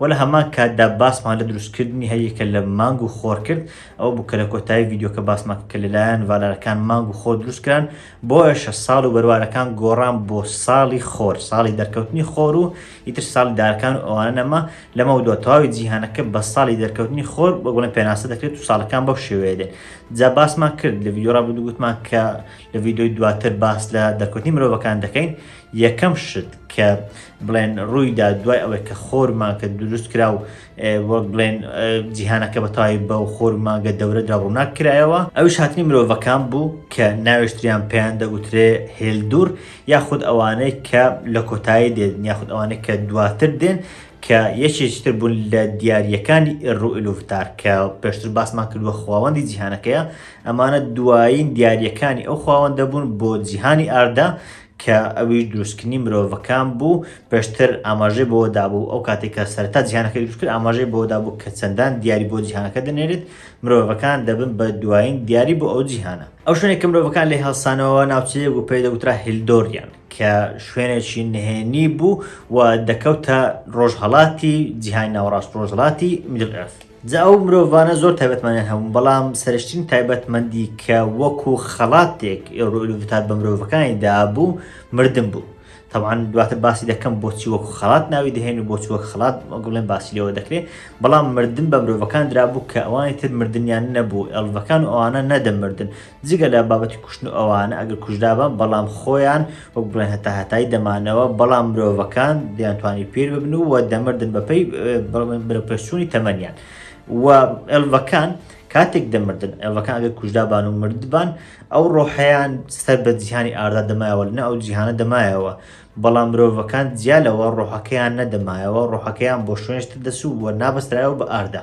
وە لە هەمان کاتدا باسمان لە دروستکردنی هەریەکە لە مانگ و خۆر کرد، ئەوە بوو کە لە کۆتایی ڤیدیۆکە باسمان کرد کە لەلایەن ڤالارەکان مانگ و خۆر دروستکران، بۆیەشە ساڵ و بەروارەکان گۆڕان بۆ ساڵی خۆر، ساڵی دەرکەوتنی خۆر و ئیتر ساڵی دارەکان و ئەوانە نەما، لەمەودوا تەواوی جیهانەکە بە ساڵی دەرکەوتنی خۆر وەک بڵێن پێناسە دەکرێت و ساڵەکان بەو شێوەیە دێن، جا باسمان کرد لە ڤیدیۆی ڕابردوو گوتمان کە لە ڤیدیۆی دواتر باس لە دەرکەوتنی مرۆڤەکان دەکەین، یەکەم شت کە. بڵێن ڕووی دا دوای ئەوەی کە خۆر مانکە دروست کرا و وەک بڵێن جیهانەکە بە تاوی بە و خۆر مانگە دەورەدا ڕووناک کرایەوە ئەوش هاتنی مرۆڤەکان بوو کە ناوێشتریان پێیان دەگوترێ هێلدور یاخود ئەوانەی کە لە کۆتایی دێن یاخود ئەوانەی کە دواتر دێن کە یەکێکی تر بوون لە دیارریەکانی ڕوئلوفتار کە پێشتر باسمان کردووە خواوەندی جیهانەکەیە ئەمانە دوایین دیارریەکانی ئەو خواوەندە بوون بۆ جیهانی ئاردا کە ئەویش دروستکردنی مرۆڤەکان بوو، پێشتر ئاماژەی بەوە دابوو، ئەو کاتێک کە سەرەتا جیهانەکەی دروست کرد ئاماژەی بەوە دابوو کە چەندان دیاری بۆ جیهانەکە دەنێرێت، مرۆڤەکان دەبن بە دوایین دیاری بۆ ئەو جیهانە. ئەو شوێنەی کە مرۆڤەکان لێی هەڵسانەوە ناوچەیەک بوو پێی دەگوترا هیلدۆریان، کە شوێنێکی نهێنی بوو و دەکەوتە ڕۆژهەڵاتی جیهانی ناوەڕاست، ڕۆژهەڵاتی Middle Earth. جا ئەو مرۆڤانە زۆر تایبەتمەنیان هەبوون، بەڵام سەرشتین تایبەتمەندی کە وەکو خەڵاتێک ئێوروئیلوڤتات بە مرۆڤەکانی دابوو مردن بوو. تەبعەن دواتر باسی دەکەم بۆچی وەکو خەڵات ناوی دەهێن و بۆچی وەک خەڵات گوڵێن باسی لێوە دەکرێ، بەڵام مردن بە مرۆڤەکان درابوو کە ئەوانی تر مردنیان نەبوو، ئێڵڤەکان و ئەوانە نەدەمردن، جگە لە بابەتی کوشتن و ئەوانە ئەگەر کوژرابان بەڵام خۆیان وەک بڵێن هەتا هەتایی دەمانەوە بەڵام مرۆڤەکان دەیانتوانی پیر ببن و دەمردن بەپی بەرەپەرچوونی تەمەنیان و ئەلڤەکان کاتێک دەمردن ئەلڤەکان ئەگەر کوژدابان و مردبان ئەو ڕۆحیان سەر بە جیهانی ئاردا دەمایەوە لە ئەو جیهانە دەمایەوە بەڵام مرۆڤەکان جیا لەوە ڕۆحەکەیان نەدەمایەوە ڕۆحەکەیان بۆ شوێنشتر دەسوو بووە نابەسترایەوە بە ئاردا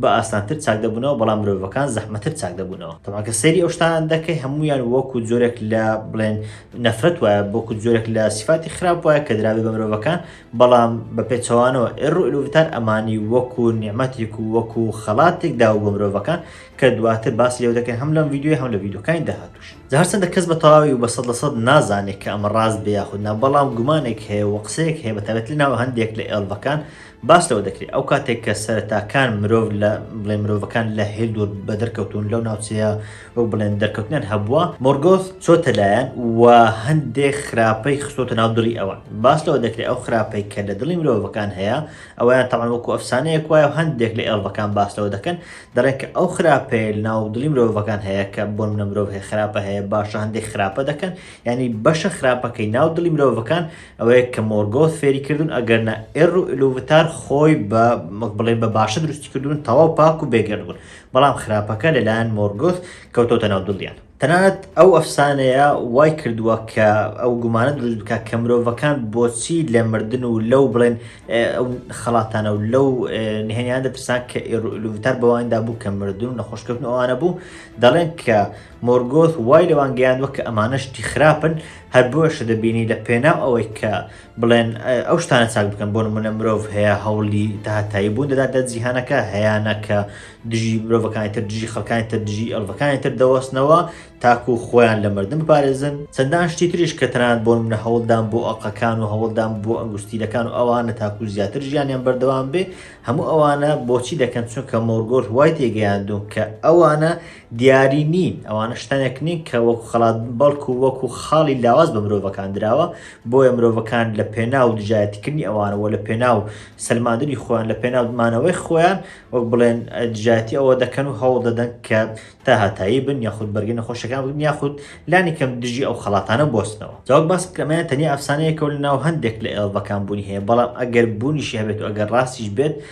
بە ئاسانتر چاک دەبوونەوە بەڵام مرۆڤەکان زەحمەتر چاک دەبوونەوە تەبا کە سەیری ئەو شتانە دەکەی هەمویان وەکو جۆرێک لە بڵێن نەفرەت وایە بۆکو جۆرێک لە سیفاتی خراپ وایە کە دراوی بە مرۆڤەکان بەڵام بە پێچەوانەوە ئێڕ و ئلوڤتار ئەمانی وەکو نیعممەتێک و وەکو خەڵاتێک داو بۆ مرۆڤەکان کە دواتر باس لێو دەکەن هەم لەم یددیوی هەم لە یددیوکانی داهاتوش هەرچەندە کەس بە تەواوی و بە سەد لە سەد نازانێت کە ئەمە ڕاست بێ یاخودنا بەڵام گومانێک هەیە و قسەیەک هەیە بە تابێت لە ناو هەندێک لە ئێڵڤەکان باس لەوە دەکرێت ئەو کاتێک کە سەرەتاکان مرۆڤ لە بڵێ مرۆڤەکان لە هێل دوور بە دەرکەوتون لەو ناوچەیە وەک بڵێن دەرکەوتنیان هەبووە مۆرگۆث چۆتە لایەن و هەندێک خراپەی خستۆتە ناو دڵی ئەوان باس لەوە دەکرێت ئەو خراپەی کە لە دڵی مرۆڤەکان هەیە ئەویان تەمان وەکو ئەفسانەیەک وایە و هەندێک لە ئێڵڤەکان باس لەوە دەکەن دەڵێن کە ئەو خراپەیە ناو دڵی مرۆڤەکان هەیە کە بۆن منە مرۆڤ هەیە خراپە هەیە باشە هەندێک خراپە دەکەن ینی بەشە خراپەکەی ناو دڵی مرۆڤەکان ئەوەیە کە مۆرگۆث فێری کردوون، ئەگەرنا ئێر و ئیلوڤتار خۆی بە، وەک بڵێین بە باشە دروستی کردوون، تەواو پاک و بێگەرد بوون، بەڵام خراپەکە لە لایەن مۆرگۆث کەوتۆتە ناو دڵیان. تەنانەت ئەو ئەفسانەیە وای کردووە کە ئەو گومانە دروست بکات کە مرۆڤەکان بۆچی لە مردن و لەو بڵێن ئەو خەڵاتانە و لەو نهێنییانە دەترسان کە ئێر و ئیلوڤتار بەوانیدا بوو کە مردن و نەخۆشکەوتن ئەوانە بوو، دەڵێن کە مۆرگۆث وای لەوان گەیاندوە کە ئەمانە شتی خراپن، هەر بۆیەشە دەبینی لە پێناو ئەوەی کە بڵێن ئەو شتانە چاک بکەن بۆ نمونە مرۆڤ هەیە هەوڵی داهاتایی بوون دەدات لە جیهانەکە هەیانە کە دژی مرۆڤەکانی تر دژی خەکانی تر دژی ئەلڤەکانی تر دەوەستنەوە تاکو خۆیان لە مردن بپارێزن چەندان شتی تریش کە تەنان بۆ منە هەوڵدان بۆ ئەقەکان و هەوڵدان بۆ ئەنگوستیلەکان و ئەوانە تاکو زیاتر ژیانیان بەردەوام بێ هەموو ئەوانە بۆچی دەکەن چونکە مۆرگۆر وای تێگەیاندون کە ئەوانە دیاری نین، ئەوانە شتانێک نین کە وەکو خەڵات بن، بەڵکو وەکو خاڵی لاواز بە مرۆڤەکان دراوە، بۆیە مرۆڤەکان لە پێناو دژایەتیکردنی ئەوانە و لە پێناو سەلماندنی خۆیان، لە پێناو مانەوەی خۆیان وەک بڵێن دژایەتی ئەوە دەکەن و هەوڵ دەدەن کە تا هاتایی بن یاخود بەرگەی نەخۆشەکان بگرن یاخود لانی کەم دژی ئەو خەڵاتانە بوەستنەوە. جا وەک باسم کرد ئەمەیان تەنیا ئەفسانەیەکە و لەناو هەندێک لە ئێڵڤەکان بوونی هەیە، بەڵام ئەگەر بوونیشی هەبێت و ئەگەر ڕاستیش بێت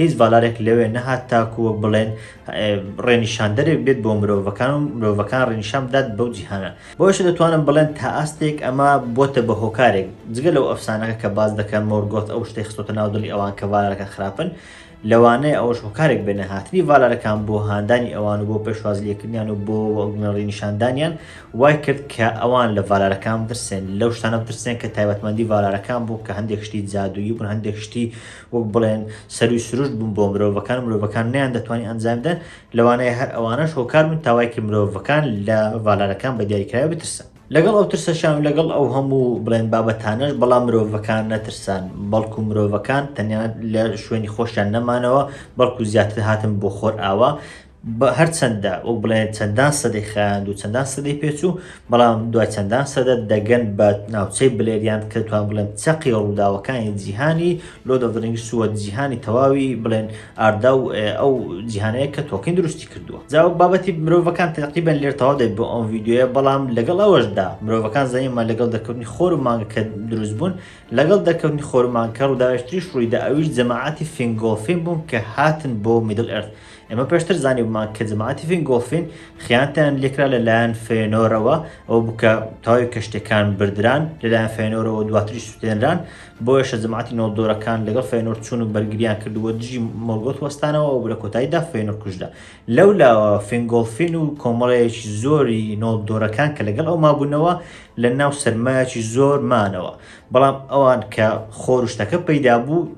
هیچ ڤالارێک لەوێ نەهات تاکو وەک بڵێن ڕێنیشاندەرێک بێت بۆ مرۆڤەکان و مرۆڤەکان ڕێنیشان بدات بەو جیهانە بۆیشە دەتوانم بڵێن تا ئاستێک ئەمە بۆتە بە هۆکارێک جگە لەو ئەفسانەکە کە باز دەکەن مۆرگۆت ئەو شتەی خستۆتە ناو دڵی ئەوان کە ڤالارەکە خراپن لەوانەیە ئەوەش هۆکارێک بێنە هاتنی ڤالارەکان بۆ هاندانی ئەوان و بۆ پێشوازی لێکردنیان و بۆ وەگنەڕی نیشاندانیان وای کرد کە ئەوان لە ڤالارەکان بترسێن لەو شتانە بترسێن کە تایبەتمەندی ڤالارەکان بوو کە هەندێک شتی جادوویی بوون هەندێک شتی وەک بڵێن سەروی سروشت بوون بۆ مرۆڤەکان و مرۆڤەکان نیان دەتوانین ئەنجام بدەن لەوانەیە هەر ئەوانەش هۆکار بن تاوایکە مرۆڤەکان لە ڤالارەکان بە دیاریکراوی بترسن لەگەڵ ئەو ترسەشان و لەگەڵ ئەو هەموو بڵێن بابەتانەش بەڵام مرۆڤەکان نەترسان بەڵکو مرۆڤەکان تەنیا لە شوێنی خۆشیان نەمانەوە بەڵکو زیاتر هاتن بۆ خۆرئاوا بە هەرچەندە وەک بڵێن چەندان سەدەی خایاند و چەندان سەدەی پێچوو بەڵام دوای چەندان سەدە دەگەن بە ناوچەی بلێریاند کە توان بڵێن چەقی ڕووداوەکانی جیهانی لۆ دەدرنگی سووە جیهانی تەواوی بڵێن ئاردا و ئەو جیهانەیە کە تۆکین دروستی کردووە جا بابەتی مرۆڤەکان تەقیبەن لێر تەواو دەبێت بۆ ئەم ڤیددیوە بەڵام لەگەڵ ئەوەشدا مرۆڤەکان زانیمە لەگەڵ دەکەوتنی خۆر و مانگەکە دروست بوون لەگەڵ دەکەوتنی خۆرمانکە ڕووداوێشتریش ڕوویدا ئەویش جەماعاتی فینگۆڵفین بوون کە هاتن بۆ میدل ئەرد ئێمە پێشتر زانیومان کە جەماعەتی فینگۆڵفین خیانەتیان لێکرا لەلایەن فێنۆرەوە ئەو بکە تاوی کەشتەکان بردران لەلایەن فێنۆرەوە دواتری سووتێنران بۆیەشە جەماعەتی نۆڵدۆرەکان لەگەڵ فێنۆر چوون و بەرگریان کردووە دژی مۆرگۆت وەستانەوە ئەو لە کۆتاییدا فێنۆر کوژرا لەو لاوە فینگۆڵفین و کۆمەڵەیەکی زۆری نۆڵدۆرەکان کە لەگەڵ ئەو مابوونەوە لە ناو سەرمایەکی زۆر مانەوە بەڵام ئەوان کە خۆر و شتەکە پەیدا بوو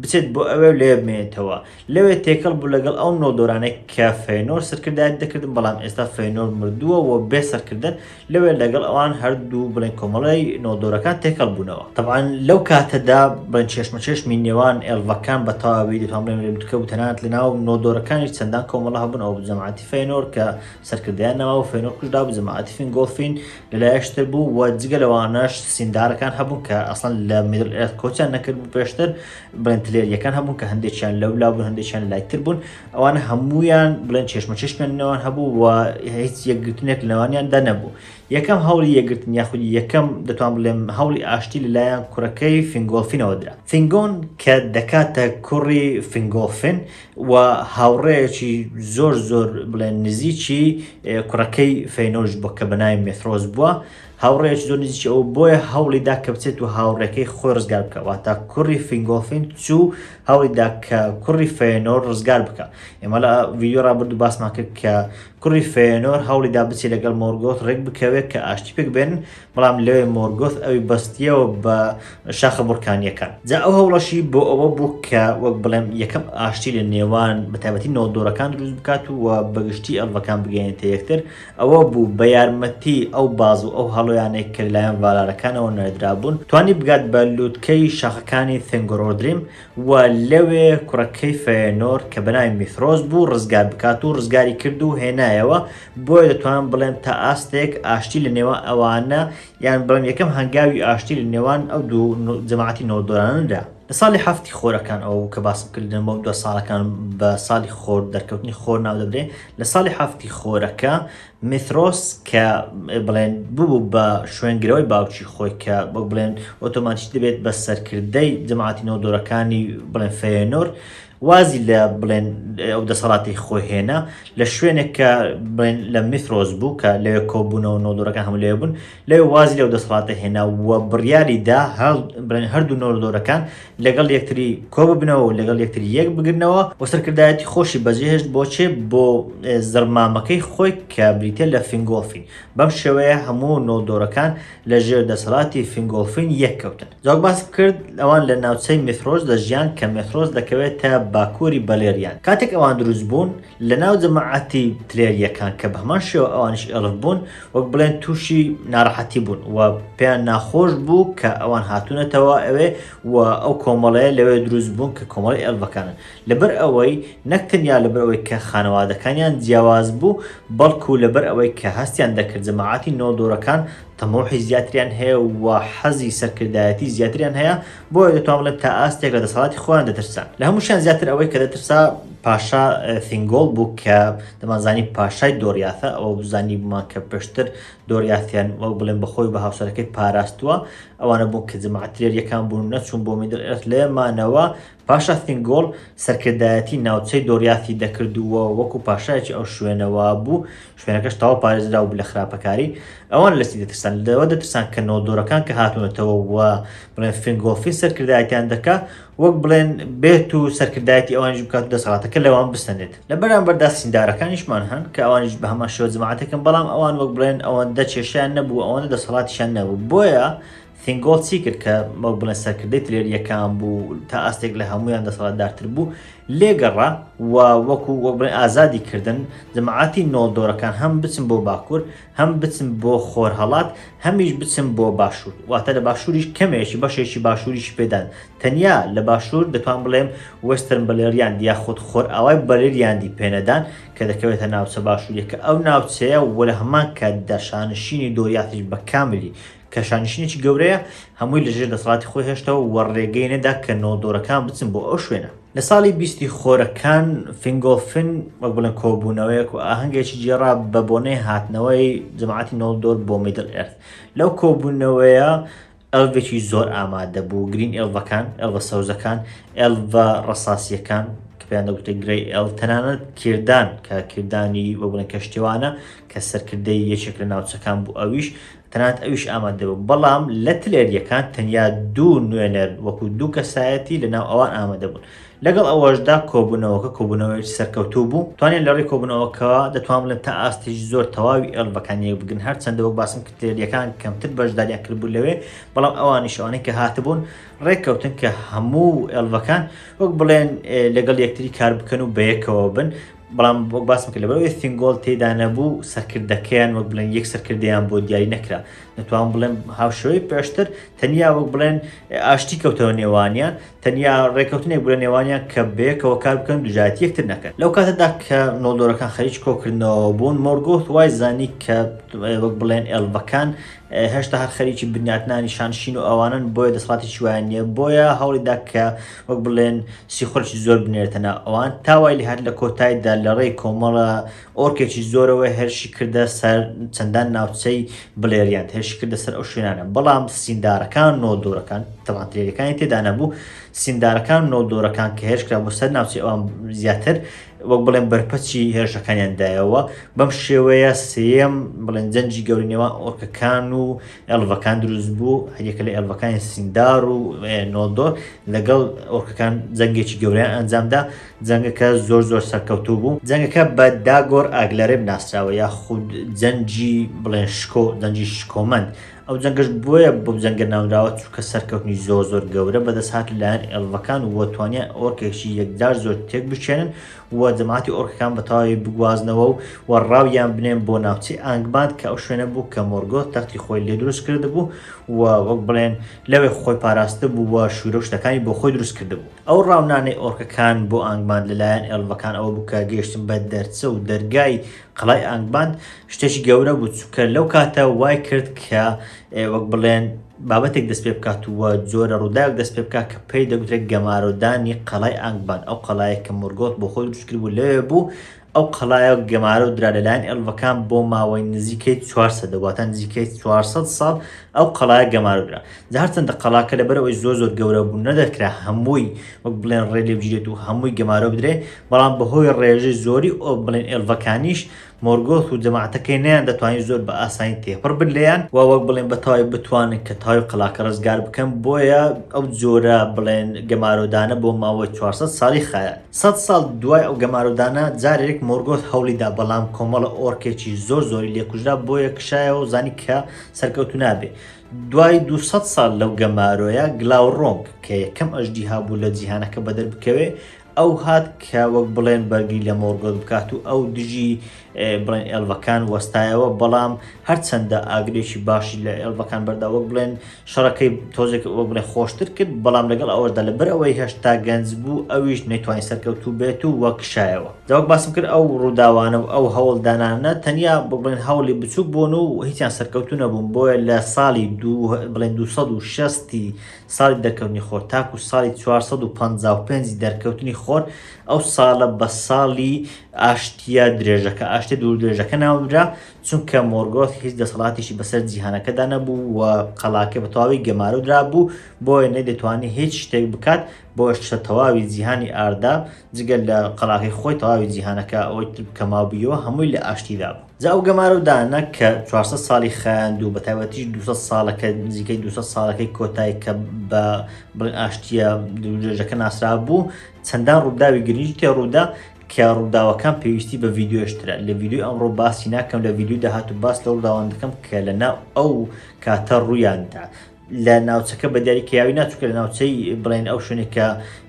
بچێت بۆ ئەوێ و لەوێ بمێنێتەوە. لەوێ تێکەڵ بوو لەگەڵ ئەو نۆڵدۆرانەی کە فەینۆر سەرکردایەتی دەکردن، بەڵام ئێستا فەینۆر مردووە و بێ سەرکردەن، لەوێ لەگەڵ ئەوان هەردوو بڵێن کۆمەڵەی نۆڵدۆرەکان تێکەڵ بوونەوە. تەبعەن لەو کاتەدا بڵێن چێشمەچێشمی نێوان ئێڵڤەکان بە تەواوی دەتوان بڵێین لە لوتکە بوو، تەنانەت لە ناو نۆڵدۆرەکانیش چەندان کۆمەڵە هەبوون، ئەوە بوو جەماعەتی فەینۆر کە سەرکردەیان نەما و فەینۆر کوژرا بوو، جەماعەتی فینگۆڵفین، لەلایەکشتر بوو و جگە لەوانەش سیندارەکان هەبوون کە ئەسڵەن لە میدل ئێرت کۆچیان نەکردبوو پێشتر بڵێن تلێریەکان هەبوون کە هەندێکیان لەو لا بوون هەندێکیان لای تر بوون ئەوانە هەمویان بڵێن چێشمە چێشمیان نەوان هەبوو و هیچ یەکگرتنێک لەوانیان دەنەبوو یەکەم هەوڵی یەکگرتن یاخودی یەکەم دەتوان بڵێم هەوڵی ئاشتی لەلایەن کوڕەکەی فنگۆڵفینەوە درا فنگۆن کە دەکاتە کوڕی فنگۆفن وە هاوڕێیەکی زۆر زۆر بڵێن نزیکی کوڕەکەی فەینۆش بووە کە بەناوی مێثرۆس بووە هاوڕێیەکی زۆر نزیکی ئەو بۆیە هەوڵی دا کە بچێت و هاوڕێکەی خۆی ڕزگار بکە واتە کوڕی فینگۆڵفین چوو هەوڵی دا کە کوڕی فەینۆر ڕزگار بکە ئێمە لە ڤیدیۆ ڕابرد و باسمان کرد کە کوڕی فەینۆر هەوڵی دا بچێت لەگەڵ مۆرگۆت ڕێک بکەوێت کە ئاشتی پێک بێن بەڵام لەوێ مۆرگۆث ئەوی بەستییەوە بە شاخە بڕکانییەکان جا ئەو هەوڵەشی بۆ ئەوە بوو کە وەک بڵێم یەکەم ئاشتی لە نێوان بەتابەتی نۆدۆرەکان دروست بکات و بەگشتی ئەلڤەکان بگەێنێتە یەکتر ئەوە بوو بە یارمەتی ئەو باز و ئەو هەڵۆیانێک کە لایەن ڤالارەکانەوە نەدرابوون توانی بگات بە لووتکەی شاخەکانی ثنگۆرۆدریم و لەوێ کوڕەکەی فەیەنۆر کە بەناوی میفرۆس بوو ڕزگار بکات و ڕزگاری کرد و هێنایەوە، بۆیە دەتوانم بڵێم تا ئاستێک ئاشتی لە نێوان ئەوانە یان بڵێم یەکەم هەنگاوی ئاشتی لە نێوان ئەو دوو جەماعەتی نۆدۆرانە دا. لە ساڵی هەفتی خۆرەکان ئەوە بوو کە باسم کرد لە مەودوا ساڵەکان بە ساڵی خۆر دەرکەوتنی خۆر ناو دەبرێ لە ساڵی هەفتی خۆرەکە میترۆس کە بڵێن ببوو بە شوێنگرەوەی باوکی خۆی کە وەک بڵێن ئۆتۆماتیک دەبێت بە سەرکردەی جەماعەتی نۆدۆرەکانی بڵێن فەیەنۆر وازی لە بڵێن ئەو دەسەڵاتی خۆی هێنا لە شوێنێک کە بڵێن لە میترۆس بوو کە لەوێ کۆبوونەوە نۆدۆرەکان هەم لێ بوون لەوێ وازی لەو دەسەڵاتە هێنا و بڕیاری دا هەڵ بڵێن هەردوو نۆردۆرەکان لەگەڵ یەکتری کۆببنەوە و لەگەڵ یەکتری یەک بگرنەوە و سەرکردایەتی خۆشی بەجێهێشت بۆ چێ؟ بۆ زڕمامەکەی خۆی کە بریتیە لە فینگۆڵفین. بەم شێوەیە هەموو نۆڵدۆرەکان لە ژێر دەسەڵاتی فینگۆڵفین یەک کەوتن. جاوەک باسم کرد ئەوان لە ناوچەی میثرۆس دەژیان کە میثرۆس دەکەوێتە باکووری بەلێریان. کاتێک ئەوان دروست بوون لە ناو جەماعەتی تلێرییەکان کە بە هەمان شێوە ئەوانیش ئێڵف بوون وەک بڵێن تووشی ناڕەحەتی بوون و پێیان ناخۆش بوو کە ئەوان هاتوونەتەوە ئەوێ و ئەو کۆمەڵەیە لەوێ دروست بوون کە کۆمەڵی ئێلڤەکانن لەبەر ئەوەی نەکتەنیا لەبەر ئەوەی کە خانەوادەکانیان جیاواز بوو بەڵکو لەبەر ئەوەی کە هەستیان دەکرد جەماعەتی نۆدۆرەکان تەمۆحی زیاتریان هەیە و حەزی سەرکردایەتی زیاتریان هەیە بۆیە دەتوان بڵێم تا ئاستێک لە دەسەڵاتی خۆیان دەترسان لە هەمووشیان زیاتر ئەوەی کە دەترسا پاشا ثینگۆڵ بوو کە دەمانزانی پاشای دۆریاثە ئەوە بزانی بمان کە پێشتر دۆریاثیان وەک بڵێن بەخۆی بە هاوسەرەکەی پاراستووە ئەوانە بوو کە جمعترێر یەکان بوون نەچوون بۆ میدل ئێرت لێمانەوە پاشا ثینگۆڵ سەرکردایەتی ناوچەی دۆریاثی دەکردووە وەکو پاشایەکی ئەو شوێنەوە بوو شوێنەکەش تەواو پارێزراو بوو لە خراپەکاری، ئەوان لەچی دەترسان؟ لەوە دەترسان کە نۆدۆرەکان کە هاتوونەتەوە و بڵێن فینگۆفین سەرکردایەتیان دەکا، وەک بڵێن بێت و سەرکردایەتی ئەوانیش بکات و دەسەڵاتەکە لەوان بسەنێت. لە بەرامبەردا سیندارەکانیشمان هەن کە ئەوانیش بە هەمان شێوە جەماعەتێکن، بەڵام ئەوان وەک بڵێن ئەوەندە کێشەیان نەبوو، ئەوەندە دەسەڵاتیشیان نەبوو، بۆیە، سینگۆڵد چی کرد کە وەک بڵێن سەرکردەی ترێر یەکان بوو تا ئاستێک لە هەمویان دەسەڵاتدارتر بوو لێگەڕا و وەکو وەک بڵێن ئازادی کردن جەماعاتی نۆڵدۆرەکان هەم بچن بۆ باکوور هەم بچن بۆ خۆرهەڵات هەمیش بچن بۆ باشوور واتە لە باشووریش کەمێکی بەشێکی باشووریش پێدان تەنیا لە باشوور دەتوان بڵێم وەسترن بەلێریان دیاخود خۆر ئاوای بەلێریاندی پێنەدان کە دەکەوێتە ناوچە باشووریەکە ئەو ناوچەیە وە لە هەمان کاتدا شانشینی دۆریاتیش بە کاملی کە شانشینێکی گەورەیە، هەمووی لەژێر دەسەڵاتی خۆی هێشتەوە و ڕێگەی نەدا کە نۆڵدۆرەکان بچن بۆ ئەو شوێنە. لە ساڵی بیستی خۆرەکان، فینگۆلفن وەک بڵێن کۆبوونەوەیەک و ئاهەنگێکی گێڕا بە بۆنەی هاتنەوەی جەماعەتی نۆڵدۆر بۆ میدل ئێرث. لەو کۆبوونەوەیە ئێڵڤێکی زۆر ئامادە بوو، گرین ئێڵڤەکان، ئێڵڤە سەوزەکان، ئێڵڤە ڕەساسییەکان، کە پێیان دەگوترێت گرەی ئێڵڤ، تەنانەت کیردان کە کیردانی وەک بڵێن کەشتیوانە کە سەرکردەی یەکێک لە ناوچەکان بوو ئەویش تەنانەت ئەویش ئامادە بوو، بەڵام لە تلەرییەکان تەنیا دوو نوێنەر وەکو دوو کەسایەتی لە ناو ئەوان ئامادە بوون. لەگەڵ ئەوەشدا کۆبوونەوەکە کۆبوونەوەیەکی سەرکەوتوو بوو، توانیان لە ڕێی کۆبوونەوەکەوە دەتوان بڵێن تا ئاستێکی زۆر تەواوی ئێڵڤەکان یەک بگرن، هەرچەندە وەک باسم کرد تلەرییەکان کەمتر بەشداریان کردبوو لەوێ، بەڵام ئەوانیش ئەوانەی کە هاتبوون ڕێککەوتن کە هەموو ئێڵڤەکان وەک بڵێن لەگەڵ یەکتری کار بکەن و بەیەکەوە بن، بەڵام وەک باسم کرد لەبەرەوەی فینگۆڵ تێدا نەبوو سەرکردەکەیان وەک بڵێن یەک سەرکردیان بۆ دیاری نەکرا نەتوان بڵێن هاوشێوەی پێشتر تەنیا وەک بڵێن ئاشتی کەوتەوە نێوانیان تەنیا ڕێککەوتنێک بڵە نێوانیان کە بەیەکەوە کار بکەن دوژایەتی یەکتر نەکەن لەو کاتەدا کە نۆڵدۆرەکان خەریج کۆکردنەوە بوون مۆرگۆت وای زانی کە وەک بڵێن ئێلڤەکان هێشتا هەر خەریکی بنیاتنانی شانشین و ئەوانن بۆیە دەسڵاتی شویان نیە بۆیە هەوڵیدا کە وەک بڵێن سیخوڕێکی زۆر بنێرێتە ناو ئەوان تا وای لێهات لە کۆتایدا لە ڕێی کۆمەڵە ئۆرکێکی زۆرەوە هێرشی کردە سەر چەندان ناوچەی بلێریاند هێرشی کردە سەر ئەو شوێنانە بەڵام سیندارەکان و نۆلدۆرەکان تەمان ترێلەکانی تێدا نەبوو سیندارەکان و نۆلدۆرەکان کە هێرش کرا بۆ سەر ناوچەی ئەوان زیاتر وەک بڵێن بەرپەچی هێرشەکانیان دایەوە بەم شێوەیە سێیەم بڵێن جەنجی گەورەی نێوان ئۆرکەکان و ئێڵڤەکان دروست بوو هەریەکە لە ئێڵڤەکانی سیندار و نۆلدۆر لەگەڵ ئۆرکەکان جەنگێکی گەوریان ئەنجامدا جەنگەکە زۆر زۆر سەرکەوتوو بوو جەنگەکە بە داگۆر ئاگلەرێ بناسراوە یا خود جەنجی بڵێن شکۆ دەنجی شکۆمەند ئەو جەنگەش بۆیە بۆ جەنگە ناونراوە چووکە سەرکەوتنی زۆر زۆر گەورە بەدەست هات لایەن ئێڵڤەکان وە توانیان ئۆرکێکی یەکجار زۆر تێک بچێنن و جەماعەتی ئۆرکەکان بە تەواوی بگوازنەوە و و ڕاویان بنێن بۆ ناوچەی ئانگباند کە ئەو شوێنە بوو کە مۆرگۆت تەختی خۆی لێ دروست کردبوو و وەک بڵێن لەوێ خۆی پاراستە بوو و شوورە و شتەکانی بۆ خۆی دروست کردبوو ئەو ڕاونانەی ئۆرکەکان بۆ ئانگباند لەلایەن ئێڵڤەکان ئەوە بوو کە گەیشتن بە دەرچە و دەرگای قەڵای ئانگباند شتێکی گەورە بوو چونکە لەو کاتە وای کرد کە وەک بڵێن بابەتێک دەست پێ بکات وە جۆرە ڕووداوێک دەست پێ بکات کە پێی دەگوترێت گەمارۆدانی قەڵای ئانگبان ئەو قەڵایە کە مورگۆت بۆ خۆی دروستکرد بوو لەوێ بوو ئەو قەڵایە و گەمارە و درا لەلایەن ئەلڤەکان بۆ ماوەی نزیکەی 400 دەواتە نزیکەی 400 ساڵ ئەو قەڵایە گەمارودرا جارچەندە قەڵاکە لەبەرەوەی زۆر زۆر گەورە بوو نەدەکرا هەمووی وەک بڵێن ڕێ لێ بگیرێت و هەمووی گەمارە بدرێ بەڵام بەهۆی ڕێژەی زۆری ئۆ بڵێن ئێلڤەکانیش مۆرگۆث و جەماعەتەکەی نەیان دەتوانی زۆر بە ئاسانی تێپەڕ بن لێیان و وەک بڵێن بە تەواوی بتوانن کە تەواوی قەڵاکە ڕزگار بکەن بۆیە ئەو جۆرە بڵێن گەمارۆدانە بۆ ماوەی چوار سەد ساڵی خایاند سەد ساڵ دوای ئەو گەمارۆدانە جارێک مۆرگۆث هەوڵی دا بەڵام کۆمەڵە ئۆرکێکی زۆر زۆری لێ کوژرا بۆیە کشایەوە و زانی کە سەرکەوتوو نابێ دوای دوو سەد ساڵ لەو گەمارۆیە گلاوڕۆنگ کە یەکەم ئەژدیها بوو لە جیهانەکە بەدەر بکەوێ ئەو هات کە وەک بڵێن بەرگری لە مۆرگۆت بکات و ئەو دژی بڵێن ئێلڤەکان وەستایەوە بەڵام هەرچەندە ئاگرێکی باشی لە ئێلڤەکان بەردا وەک بڵێن شەڕەکەی تۆزێک وەک بڵێ خۆشتر کرد بەڵام لەگەڵ ئەوەشدا لە بەر ئەوەی هەشتا گەنج بوو ئەویش نەیتوانین سەرکەوتوو بێت و وەک شایەوە داوەک باسم کرد ئەو ڕووداوانە و ئەو هەوڵدانانە تەنیا بڵێن هەوڵی بچووک بوون و هیچیان سەرکەوتو نەبوون بۆیە لە ساڵی بڵێن 260 ساڵی دەرکەوتنی خۆر تاکوو ساڵی چوار سەد و پەنجا و پێنج دەرکەوتنی خۆر ئەو ساڵە بە ساڵی ئاشتییە درێژەکە، ئاشتییە دووردرێژەکە ناونرا، چونکە مۆرگۆث هیچ دەسەڵاتێکی بەسەر جیهانەکەدا نەبوو و قەڵاکەی بە تەواوی گەمارۆ درابوو، بۆیە نەیدەتوانی هیچ شتێک بکات، بۆیەش لە تەواوی جیهانی ئاردا جگە لە قەڵاکەی خۆی تەواوی جیهانەکە ئەوەی تر کە مابوویەوە هەمووی لە ئاشتیدا بوو. جا ئەو گەمارە و دانە کە چوار سەد ساڵی خایاند و بە تایبەتیش دو سەد ساڵەکە نزیکەی دو سەد ساڵەکەی کۆتای کە بە بڵێن ئاشتییە درێژەکە ناسرا بوو چەندان ڕووداوی گرنگی تێ ڕوودا کە ڕووداوەکان پێویستی بە ڤیددیۆشترە لە ڤیددیوی ئەمڕۆ باسی ناکەم لە ڤیددیو داهات و باس لە ڕووداوان دەکەم کە لەناو ئەو کاتە ڕوویاندا لە ناوچەکە بە دیاری کەیاوی ناچووکە لە ناوچەی بڵێن ئەو شوێنێک کە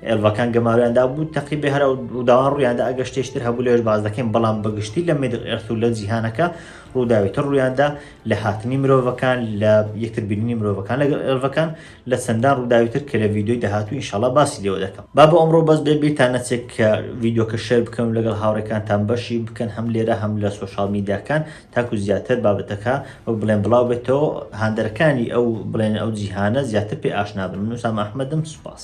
ئێلڤەکان گەمارویاندا بوو تەقی بێ هەرا وداوان ڕوویاندا ئەگە شتێشتر هەبوو لەوێش باز دەکەین بەڵام بەگشتی لە مێدق ئێرت و لە جیهانەکە ڕووداویتر ڕوویاندا لە هاتنی مرۆڤەکان لە یەکتر بیننی مرۆڤەکان لەگەڵ ئێلڤەکان لە چەندان ڕووداویتر کە لە ویددیوی داهاتوو ئینشاڵا باسی لێوە دەکەم با بە ئەمڕۆ بەس بێ بیرتان نەچێت کە ویددیوکە شێر بکەن و لەگەڵ هاوڕێکانتان بەشی بکەن هەم لێرە هەم لە سوۆشال میدیاکان تاکو زیاتر بابەتەکە وەک بڵێن بڵاو بێتەوە هاندەرەکانی ئەو بڵێن ئەو جیهانە زیاتر پێ ئاشنا بن من وسام ئەحمەدم سوپاس.